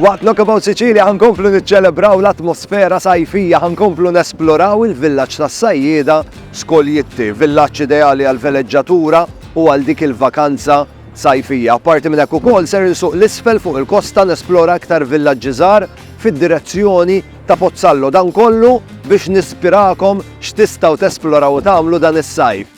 Waqt Knockabout Sicilia ħa nkomplu niċċelebraw l-atmosfera sajfija, ħa nkomplu nesploraw il-villaġġ tas-sajjieda Skoljitti, villaġġ ideali għall-veleġġatura u għal dik il-vakanza sajfija. Apparti minn hekk ukoll ser insuq 'l isfel fuq il-kosta nesplora iktar villaġġi żgħar fid-direzzjoni ta' Pozzallo, dan kollu biex nispirakom x'tistgħu tesploraw u tagħmlu dan is-sajf.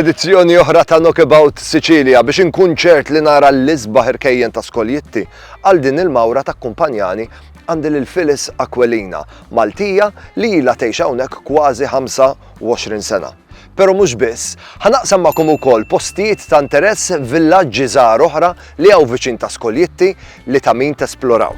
Edizzjoni oħra ta' Knockabout Sicilia biex inkun ċert li nara l-isbaħ irkejjen ta' skoljitti għal din il-mawra ta' kumpanjani għandi lil Phyllis Aquilina, Maltija li ilha tgħix hawnhekk kważi 25 sena. Pero mhux biss, ħanaqsam magħkom ukoll postijiet ta' interess villaġġi żgħar oħra li hawn viċin ta' Skoljitti li ta' min tesploraw.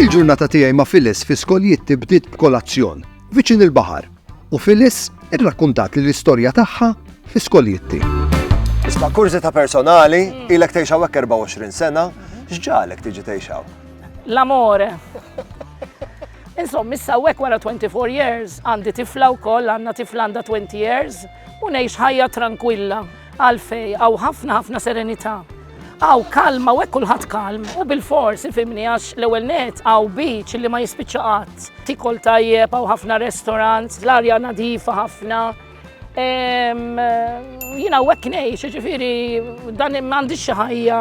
Il-ġurnata tiegħi ma' Phyllis fi skoljitti bdiet b'kolazzjon viċin il-baħar u Phyllis irrakkuntat li l-istorja tagħha fi skoljitti. Isma' ta' personali, ilek tgħixaw hekk 24 sena, x'ġalek tiġi tgħixaw? L-amore. Insomma, issa hawnhekk wara 24 years għandi tifla wkoll, għandna tifla għandha 20 years u ngħix ħajja tranquilla għalfej għaw ħafna ħafna serenità. Għaw kalma u kulħadd kalm u bil-fors ifimni għax l-ewwel net għaw beach li ma jispiċċa qatt. Tikol tajjeb għaw ħafna restaurants, l-arja nadifa ħafna, Jina u għeknej, ġifiri, dan mandi xaħja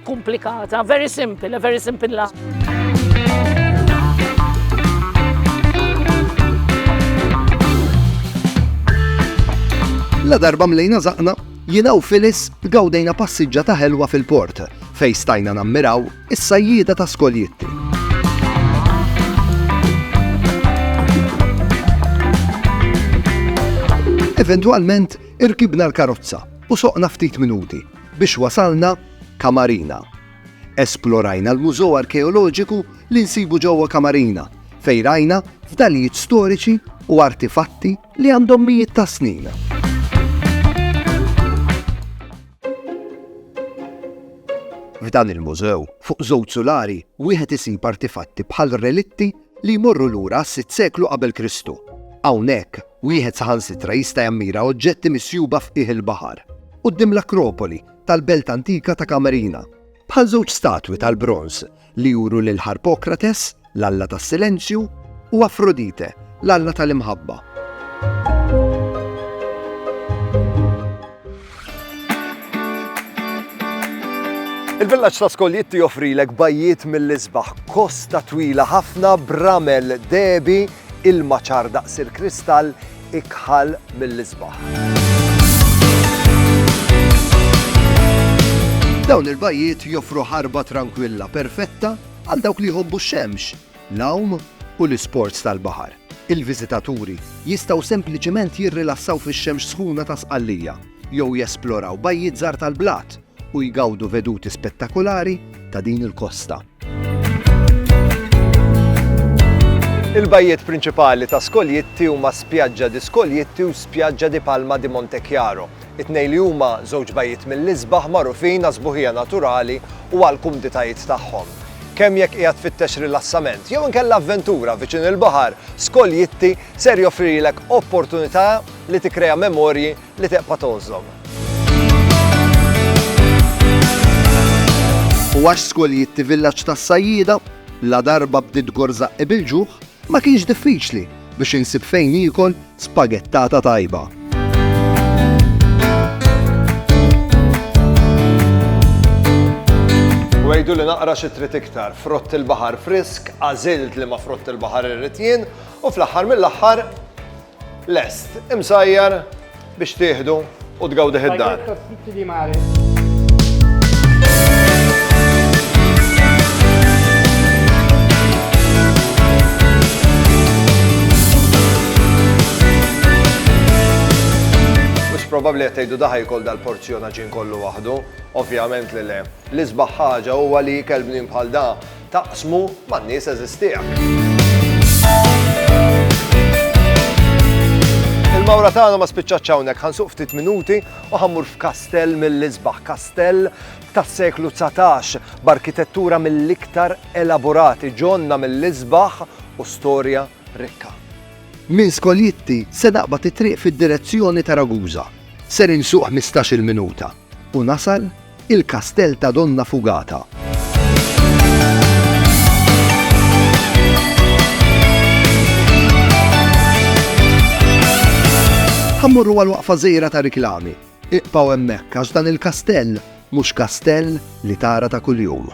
komplikata, very simple, very simple la. La darba mlejna zaqna, jina u Filis gawdejna passiġġa ta' ħelwa fil-port, fej stajna nammiraw Is-sajjieda ta' Skoljitti. Eventwalment irkibna l-karozza u soqna ftit minuti biex wasalna Kamarina. Esplorajna l-mużew arkeoloġiku li nsibu ġewwa Kamarina fejn rajna fdalijiet storiċi u artifatti li għandhom mijiet ta' snin. F'dan il-mużew, fuq żewġ sulari, wieħed isib artifatti bħal relitti li jmorru lura għas-sitt seklu qabel Kristu. Hawnhekk, wieħed saħansitra jista' jammira oġġetti misjuba f'qiegħ il-baħar, quddiem l-Akropoli tal-belt antika ta' Camarina, bħal żewġ statwi tal-bronż li juru lil Harpokrates, l-alla tas-silenzju, u Afrodite, l-alla tal-imħabba. Il-villaġġ ta' Skoljitti joffrilek bajjiet mill-isbaħ, kosta twila ħafna bramel debi Ilma ċar daqs il-kristall ikħal mill-isbaħ. Dawn il-bajjiet joffru ħarba trankwilla perfetta għal dawk li jħobbu x-xemx, l-għawm u l-isports tal-baħar. Il-viżitaturi jistgħu sempliċement jirrilassaw fix-xemx sħuna ta' sqallija jew jesploraw bajjiet żgħar tal-blat u jgawdu veduti spettakulari ta' din il-kosta. Il-bajjiet prinċipali ta' Skoljitti huma Spiaggia di Skoljitti u Spiaggia di Palma di Montechiaro, it-tnejn li huma żewġ bajjiet mill-isbaħ magħrufin għas-sbuħija naturali u għall-kumditajiet tagħhom. Kemm jekk qiegħed tfittex rilassament jew inkella avventura viċin il-baħar, Skoljitti ser joffrilek opportunità li tikkrea memorji li teqpa' tgħożżhom. U għax Skoljitti Villaġġ tas-Sajjieda, la darba bdiet gorżaqqi bil-ġuħ, ma kienx diffiċli biex insib fejn niekol spagettata tajba. U għidu li naqra xi trid iktar, frott il-baħar frisk, għażilt li ma frott il-baħar irrid jien, u fl-aħħar mill-aħħar Lest, imsajjar biex tieħdu u tgawdih id-dar. probabbli qed tgħidu daħaj kol dal-porzjona ġin kollu waħdu, ovvjament li le. L-isbaħ ħaġa huwa li kelbnin bħal da Taqsmu man-nies għeżież tiegħek. Il-mawra tagħna ma spiċċatx hawnhekk, ħansuq ftit minuti u ħammur f'kastell mill-isbaħ, kastell tas-seklu 19 b'arkitettura mill-iktar elaborati ġonna mill-isbaħ u storja rikka. Minn Skoljitti se naqbad it-triq fid-direzzjoni ta' Ragusa. Ser insuq ħmistax-il minuta. U nasal il-kastell ta' Donna Fugata. Ħa mmorru għal waqfa żgħira ta' riklami. Iqpaw hemmhekk għax dan il-kastell mhux kastell li tara ta' kuljum.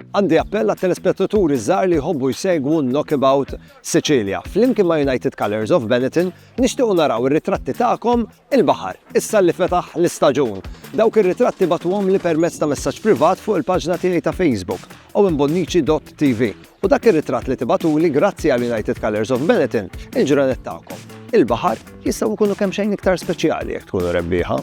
Għandi appell għat-telespettaturi żgħar li jħobbu jsegwu Knockabout Sicilia. Flimkien ma' United Colors of Benetton nixtiequ naraw ir-ritratti tagħkom il-baħar, issa li fetaħ l-istaġun. Dawk ir-ritratti batuhom li permezz ta' messaġġ privat fuq il-paġna tiegħi ta' Facebook owenbonnici.tv u dak ir-ritratt li tibatuli grazzi għal United Colors of Benetton il-ġranet tagħkom. Il-baħar jistgħu jkunu kemm xejn iktar speċjali jekk tkunu rebbieħa.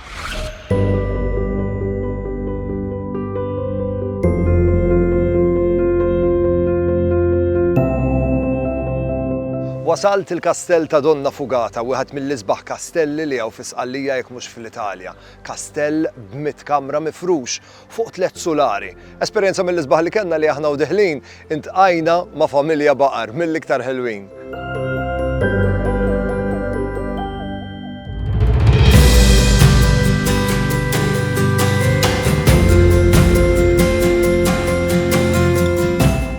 Wasalt il-Kastell ta' Donna Fugata, wieħed mill-isbaħ kastelli li hawn fi Sqallija jekk mhux fl-Italja. Kastell b'mitt kamra mifrux fuq tliet sulari. Esperjenza mill-isbaħ li kellna li aħna u Dihlin intqajna ma' familja baqar mill-iktar ħelwin.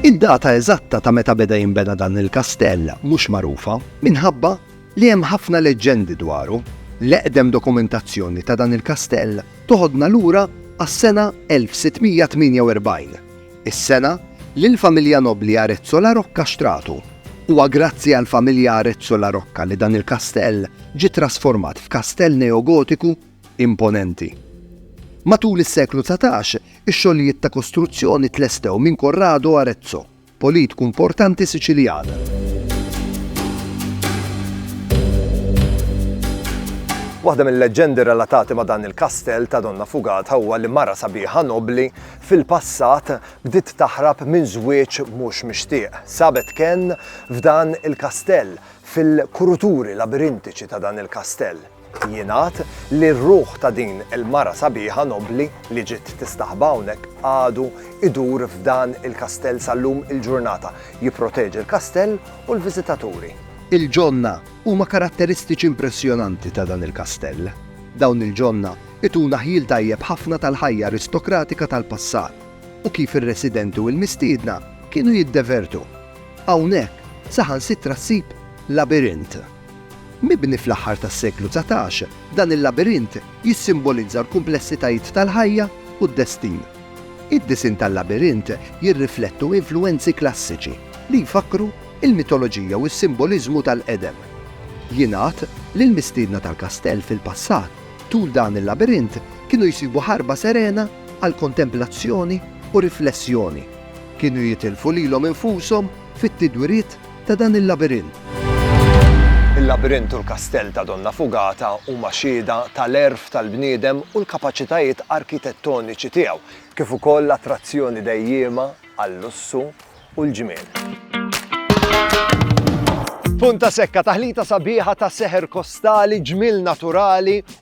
Id-data eżatta ta' meta beda jinbena dan il-kastell mhux magħrufa minħabba li hemm ħafna leġġendi dwaru, l-eqdem dokumentazzjoni ta' dan il-kastell toħodna lura għas-sena 1648, is-sena li l-familja nobbli Arezzo La Rocca xtratu. Huwa grazzi għall-familja Arezzo La Rocca li dan il-kastell ġie ttrasformat f'kastell neogotiku imponenti. Matul is-seklu dsatax, ix-xogħlijiet ta' kostruzzjoni tlestew minn Corrado Arezzo. Politku importanti Siċiljan. Waħda mill-leġġendi relatati ma' dan il-kastell ta' Donna Fugata huwa li mara sabiħa nobbli fil-passat bdiet taħrab minn żwieġ mhux mixtieq. Sabet kenn f'dan il-kastell, fil-kuruturi labirintiċi ta' dan il-kastell. Jingħad li r-ruħ ta' din il-mara sabiħa nobbli li ġiet tistaħba hawnhekk għadu idur f'dan il-kastell sal-lum il-ġurnata, jipproteġi l-kastell u l-viżitaturi. Il-ġonna huma karatteristiċi impressjonanti ta' dan il-kastell. Dawn il-ġonna ituna ħjiel tajjeb ħafna tal-ħajja aristokratika tal-passat u kif ir-residenti u l-mistiedna kienu jiddevertu. Hawnhekk saħansitra ssib labirint. Mibni fl-aħħar tas-seklu dsatax, dan il-labirint jissimbolizza l-kumplessitajiet tal-ħajja u d-destin. Id-disinn tal-labirint jirriflettu influwenzi klassiċi li jfakkru l-mitoloġija u s-simboliżmu tal-qedem. Jingħad li l-mistiedna tal-kastell fil-passat tul dan il-labirint kienu jsibu ħarba serena għal kontemplazzjoni u riflessjoni. Kienu jitilfu lilhom infushom fit-tidwiriet ta' dan il-labirint. Il-labirint u l-kastell ta' Donna Fugata huma xhieda tal-għerf tal-bniedem u l-kapaċitajiet arkitettoniċi tiegħu, kif ukoll attrazzjoni dejjiema għal-lussu u l-ġmiel. Punta Secca, taħlita sabiħa ta' seħer kostali, ġmiel naturali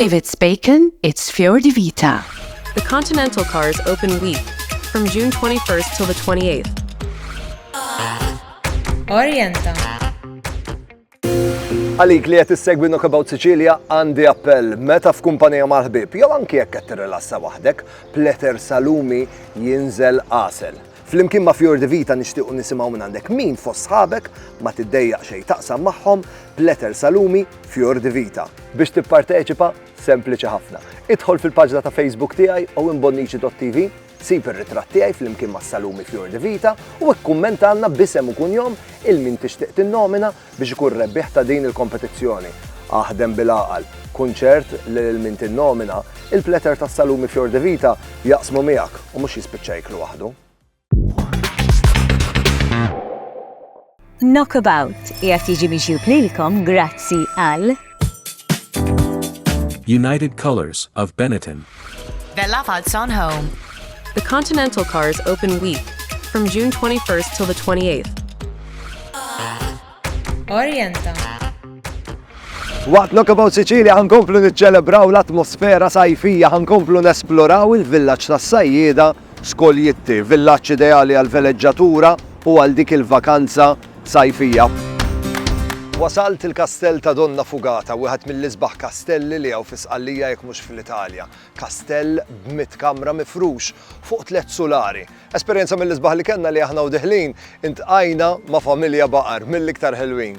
If it's bacon, it's Fior di Vita. The Continental Cars Open Week from June 21st till the 28th. Orienta. Għalik li qed issegwi Knockabout Sicilia għandi appell meta f'kumpanija mal-ħbib jew anki jekk qed tirrilassa waħdek, pleter salumi jinżel qasel. Flimkien ma' Fior di Vita nixtiequ nisimgħu minn għandek min fost sħabek ma tiddejjaq xejn taqsam magħhom b'letter salumi Fior di Vita. Biex tipparteċipa, sempliċi ħafna. Idħol fil-paġna ta' Facebook tiegħi owenbonnici.tv, sib ir-ritratt tiegħi flimkien mas-salumi Fior di Vita u ikkummentalna b'isem u kunjom il-min tixtieq tinnomina Biex ikun rebbieħ ta' din il-kompetizzjoni, aħdem bil-għaqal. Kun ċert li lil min tinnomina, il-platter tas-salumi Fior de Vita jaqsmu miegħek u mhux jispiċċa jieklu waħdu. Knockabout qiegħed jiġi miġjub lilkom grazzi għal. United Colors of Benetton. Bella Falzon Home. The Continental Cars Open Week from June 21st till the 28th. Orienta. Waqt Knockabout Sicilia ħankomplu niċċelebraw l-atmosfera sajfija, ħankomplu nesploraw il-villaġġ tas-sajjieda Skoljitti, villaġġ ideali għal veleġġatura u għal dik il-vakanza Sajfija. Wasalt il-Kastell ta' Donna Fugata, wieħed mill-isbaħ kastelli li hawn fi Sqallija jekk mhux fl-Italja. Kastell b'mitt kamra mifrux fuq tliet sulari. Esperjenza mill-isbaħ li kellna li aħna u diħlin intqajna ma' familja baqar mill-iktar ħelwin.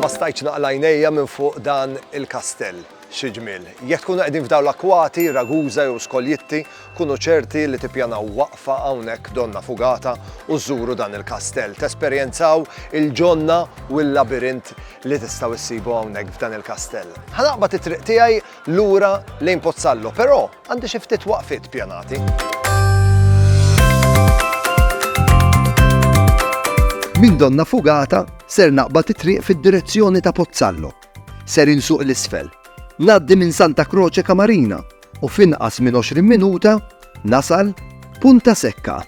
Ma stajtx naqla' għajnejja minn fuq dan il-kastell. Xi ġmiel! Jekk tkunu qegħdin f'dawn l-akwati, Ragusa jew Skoljitti, kunu ċerti li tippjanaw waqfa hawnhekk Donna Fugata u żżuru dan il-kastell, tesperjenzaw il-ġonna u l-labirint li tistgħu ssibu hawnhekk f'dan il-kastell. Ħa naqbad it-triq tiegħi lura lejn Pozzallo, però għandi xi ftit waqfiet pjanati. Min donna fugata ser naqba titriq fid-direzzjoni ta' Pozzallo. Ser insuq l-isfel. Naddi minn Santa Croce Kamarina u finqas minn 20 minuta Nasal Punta Sekka.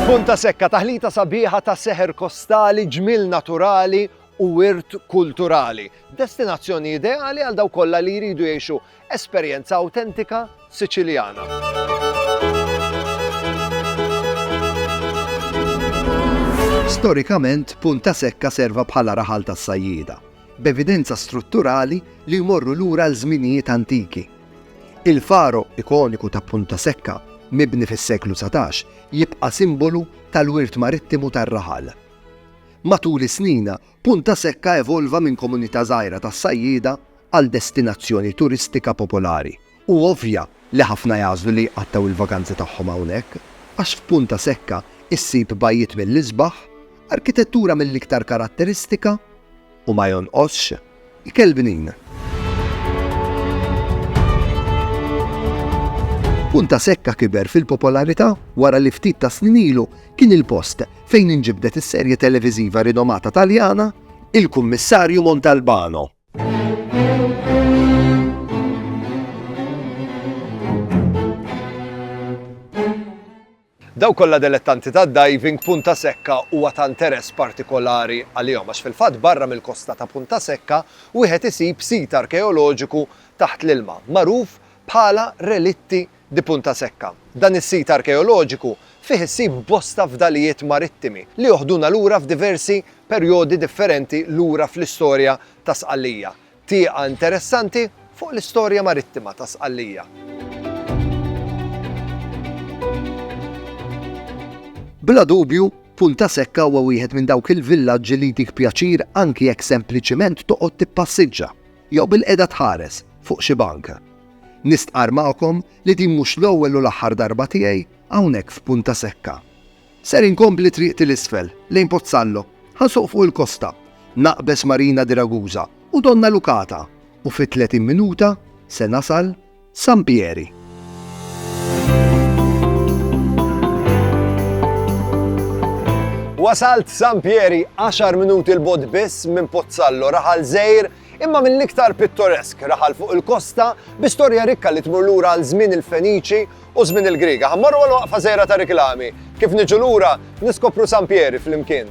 Punta sekka taħlita sabiħa ta' seħer kostali, ġmil naturali u wirt kulturali. Destinazzjoni ideali għal daw kollha li jridu jgħixu Esperjenza awtentika Siċiljana. Storikament, Punta Secca serva bħala raħal tas-sajjieda, b'evidenza strutturali li jmorru lura għal żminijiet antiki. Il-faro ikoniku ta' Punta Secca, mibni fis-seklu dsatax, jibqa' simbolu tal-wirt marittimu tar-raħal. Matul is-snina, Punta Secca evolva minn komunità żgħira tas-sajjieda, għal destinazzjoni turistika popolari, hu ovvja li ħafna jagħżlu li jqattgħu l-vaganzi tagħhom hawnhekk, għax f'Punta Secca issib bajjiet mill-isbaħ, arkitettura mill-iktar karatteristika, u ma jonqosx ikel bnin. Punta Secca kiber fil-popolarità wara li ftit ta' snin ilu kien il-post fejn inġibdet is-serje televiżiva rinomata Taljana, Il-Kummissarju Montalbano. Dawk kollha delettanti tad-diving, Punta Secca huwa ta' interess partikolari għalihom għax fil-fatt barra mill-kosta ta' Punta Secca wieħed isib sit arkeoloġiku taħt l-ilma magħruf bħala Relitti di Punta Secca. Dan is-sit arkeoloġiku fih issib bosta fdalijiet marittimi li joħduna lura f'diversi perjodi differenti lura fl-istorja ta' Sqallija. Tieqa interessanti fuq l-istorja marittima ta' Sqallija. Bla dubju, Punta Secca huwa wieħed minn dawk il-villaġġi li jtik pjaċir anki jekk sempliċiment toqgħod tippassiġġa. Jew bilqiegħda tħares fuq xi bank. Nistqarr magħkom li din mhux l-ewwel u l-aħħar darba tiegħi hawnhekk f'Punta Secca. Ser inkompli triqti 'l isfel, lejn Pozzallo, ħa nsuq fuq il-kosta, naqbeż Marina di Ragusa u Donna Lucata u fi tletin minuta se nasal San Pieri. Wasalt San Pieri 10 minuti l-bod biss minn Pozzallo raħal żejr imma mill-iktar pittoresk raħal fuq il-kosta bi storja rikka li tmur lura għal żmien il-Feniċi u żmien il-Griega. Ħammorru għal waqfa żejra ta' riklami. Kif niġu lura, niskopru San Pieri flimkien.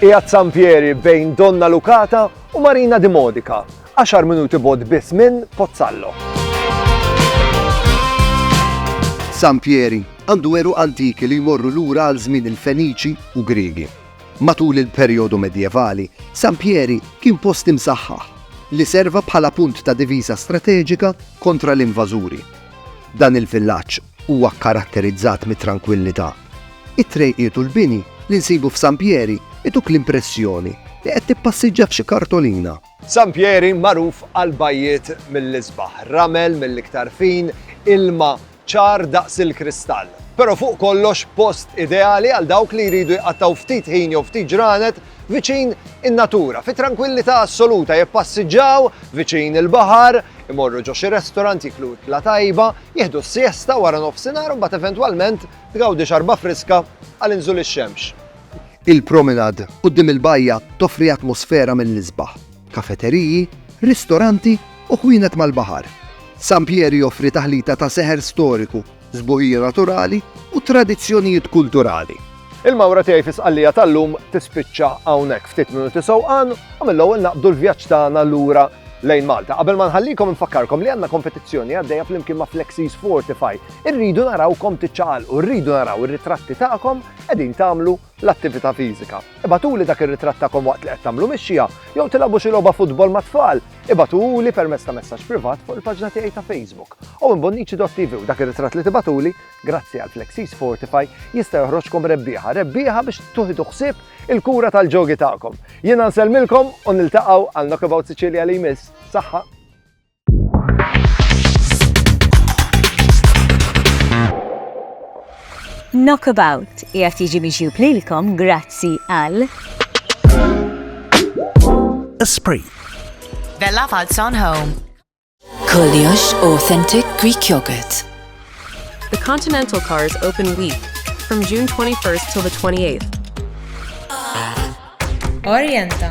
Qiegħed San Pieri bejn Donnalucata u Marina di Modica, għaxar minuti bogħod biss minn Pozzallo. San Pieri għandu għeruq antiki li jmorru lura għal żmien il-Feniċi u Griegi. Matul il-perjodu Medjevali, San Pieri kien post imsaħħaħ li serva bħala punt ta' diviża strateġika kontra l-invażuri. Dan il-villaġġ huwa kkaratterizzat mit-trankwillità It-trejqiet u l-bini li nsibu f'San Pieri ituk l-impressjoni li qed tippassiġġa f'xi kartolina. San Pieri magħruf għall-bajjiet mill-isbaħ, ramel mill-iktar fin, ilma ċar daqs il-kristall. Però fuq kollox post ideali għal dawk li jridu jqattgħu ftit ħin jew ftit ġranet viċin in-natura, fi trankwillità assoluta, jippassiġġaw viċin il-baħar, imorru ġo xi restaurant jieklu ikla tajba, jieħdu s-siesta wara nofsinhar u mbagħad eventwalment tgawdi xarba friska għal inżul ix-xemx. Il-promenade quddiem il-bajja toffri atmosfera mill-isbaħ, kafeteriji, ristoranti u ħwienet mal-baħar. San Pier joffri taħlita ta' seħer storiku, sbuħija naturali u tradizzjonijiet kulturali. Il-mawra tiegħi fi Sqallija tal-lum tispiċċa hawnhekk. Ftit minuti sewqan u mill-ewwel naqbdu l-vjaġġ tagħna lura lejn Malta. Qabel ma nħallikom infakkarkom li għandna kompetizzjoni għaddejja flimkien ma' Flexis Fortify. Irridu narawkom tiċċaqalqu, rridu naraw ir-ritratti tagħkom qegħdin tagħmlu l-attività fiżika. Ibagħtuli dak ir-ritratt tagħkom waqt li qed tagħmlu mixja jew tilgħabu xi logħba futbol mat-tfal. Ibagħtuli permezz ta' messaġġ privat fuq il-paġna tiegħi ta' Facebook, owenbonnici.tv u dak ir-ritratt li tibagħtuli, grazzi għal Flexis Fortify, jista' joħroġkom rebbieħa, rebbieħa biex tuħidu ħsieb il-kura tal-ġogi tagħkom. Jiena nsellmilkom u niltaqgħu għal Knockabout Sicilia li jmiss. Saħħa! Knockabout qiegħed jiġi miġjub lilkom grazzi għal Esprit. Bella Falz on Home. Koliosh Authentic Greek Yogurt. The Continental Cars open week from June 21st till the 28th. Orienta.